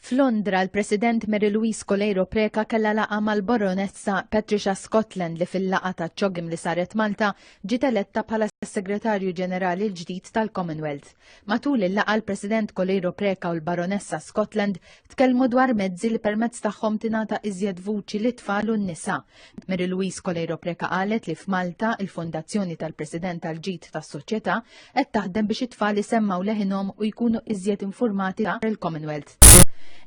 F'Londra, l-President Mary Louise Coleiro Preca kellha laqa mal-Baronessa Patricia Scotland li fil-laqa ta' ċogim li saret Malta ġiet eletta bħala Segretarju Ġenerali l-ġdid tal-Commonwealth. Matul il-laqa l-President Coleiro Preca u l-Baronessa Scotland tkellmu dwar mezzi li permezz tagħhom tingħata iżjed vuċi lit-tfal u n-nisa Mary Louise Coleiro Preca qalet li f'Malta il-Fondazzjoni tal-President tal-Ġid tas-Soċjetà qed taħdem biex it-tfal isemmaw leħinhom u jkunu iżjed informati dwar il-Commonwealth.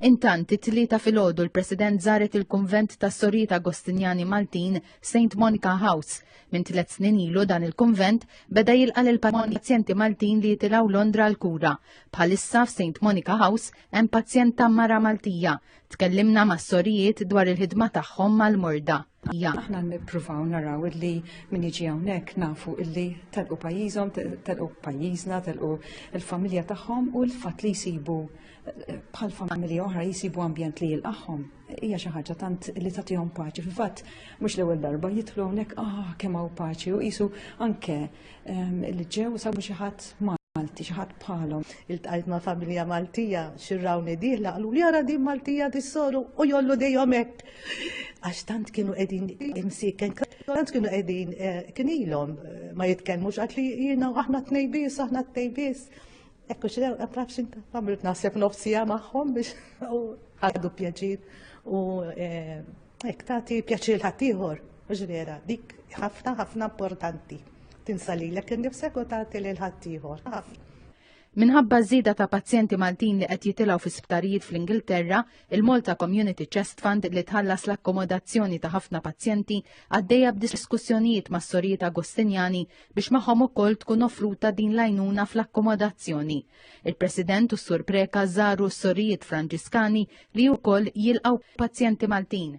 Intant, it-tlieta filgħodu l-President żaret il-Kunvent tas-Sorijiet Agostinjani Maltin St. Monica House. Minn tliet snin ilu dan il-kunvent beda jilqa' lil pazjenti Maltin li jitilgħu Londra l-kura. Bħalissa f'St. Monica House hemm pazjenta mara Maltija Tkellimna ma' sorijiet dwar il-ħidma tagħhom mal-morda. Ja. Aħna nippruvaw naraw illi min jiġi hawnhekk nafu illi telqu pajjiżhom, telqu pajjiżna, telqu l-familja tagħhom u l-fatt li jsibu eh, bħal familja oħra jisibu ambjent li jilqaħħom. Hija xi ħaġa tant li tagħtihom paċi. Fil-fatt mhux l-ewwel darba jidħlu hawnhekk ah kemm hawn paċi u qisu anke li ġew sabu xi ħadd Malti, xi ħadd bħalhom. Iltqajt ma' familja Maltija xirrawni diħla qalu li ara din Maltija tissoru u jollu dejhom hekk. Għax tant kienu qegħdin imsiken, tant kienu qegħdin eh, kien ilhom eh, ma jitkellmux għad li jiena aħna tnejbis, aħna tnejbis. Ekku xi nafx inta għamilt naħseb nofsija magħhom biex għadu pjaċir u eh, Hekk tagħti pjaċir ħaddieħor, mhux vera, dik ħafna ħafna importanti. Tinsa lilek innifsek u tagħti lil ħaddieħor. Ħafna. Minħabba żieda ta' pazjenti Maltin li qed jitilgħu fi sptarijiet fl-Ingilterra, il-Malta Community Chest Fund li tħallas l-akkomodazzjoni ta' ħafna pazjenti għaddejja b'diskussjonijiet mas-sorijiet Agostinjani biex magħhom ukoll tkun offruta din l-għajnuna fl-akkomodazzjoni. Il-President u s-Sur Preka żaru s-Sorijiet Franġiskani li wkoll jilqgħu pazjenti Maltin